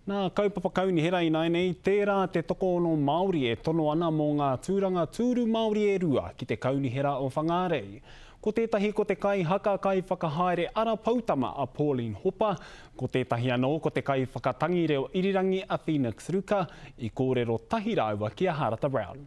Nā Kaupapa Kaunihera ināianei, tērā te tokoono Māori e tono ana mō ngā tūranga tūru Māori e rua ki te Kaunihera o Whangārei. Ko tētahi ko te kaihaka kaiwhakahaere ara poutama a Pauline Hopa, ko tētahi anō ko te kaiwhakatangi reo irirangi a Phoenix Ruka, i kōrero tahi rāua ki a Harata Brown.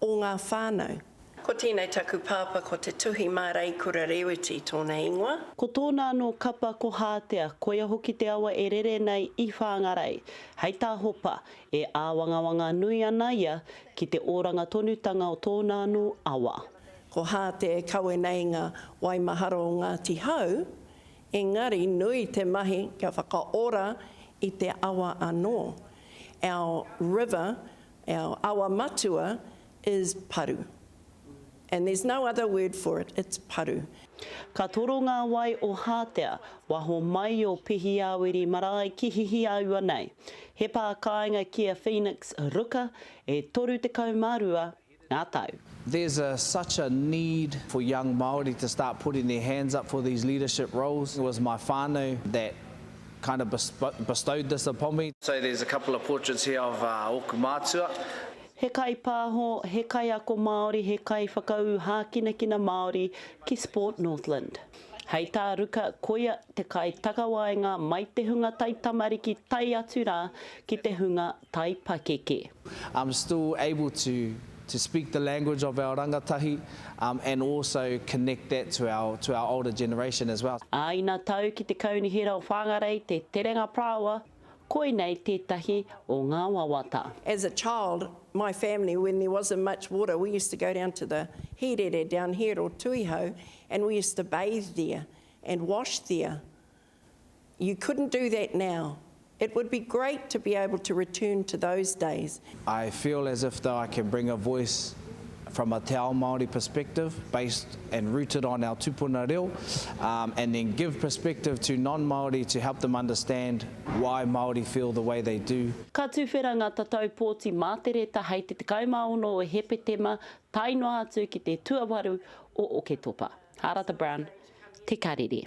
o ngā whānau. Ko tēnei taku pāpā ko Te Tuhi mā Reikura Rēweti tōna ingoa. Ko tōna anō kapa ko Hātea, koia hoki te awa e rere nei i Whāngarei. Hei tā Hopa, e āwangawanga nui ana ia ki te oranga tonutanga o tōna anō awa. Ko Hātea e kawe nei ngā waimahara o Ngāti Hau, engari nui te mahi kia whakaora i te awa anō. Our river Our awa matua is paru. And there's no other word for it, it's paru. Ka toro ngā wai o Hātea, waho mai o Pihiāwiri marae ki Hihiaua nei. He pā kāinga ki a Phoenix Ruka, e 32 ngā tau. There's a such a need for young Māori to start putting their hands up for these leadership roles. It was my whānau that kind of bestowed this upon me. So there's a couple of portraits here of ōku mātua. He kaipāho, he kaiako Māori, he kaiwhakaū hākinakina Māori ki Sport Northland. Hei tā Ruka koia te kaitakawaenga mai te hunga taitamariki tae atu rā ki te hunga tai pakeke. um still able to to speak the language of our rangatahi um and also connect that to our to our older generation as well. Ā ina tau ki te Kaunihera o Whāngarei te Terenga Parāoa, koinei tētahi o ngā wawata. As a child, my family, when there wasn't much water, we used to go down to the Hīrere down here or Tuihau and we used to bathe there and wash there. You couldn't do that now. It would be great to be able to return to those days. I feel as if that I can bring a voice from a te ao Māori perspective based and rooted on our tupuna reo um, and then give perspective to non-Māori to help them understand why Māori feel the way they do. Ka tuwhera ngā tatau pōti mātereta hei te 16 o Hepetema tae noa atu ki te tuawaru o Oketopa. Hārata Brown, Te Karere.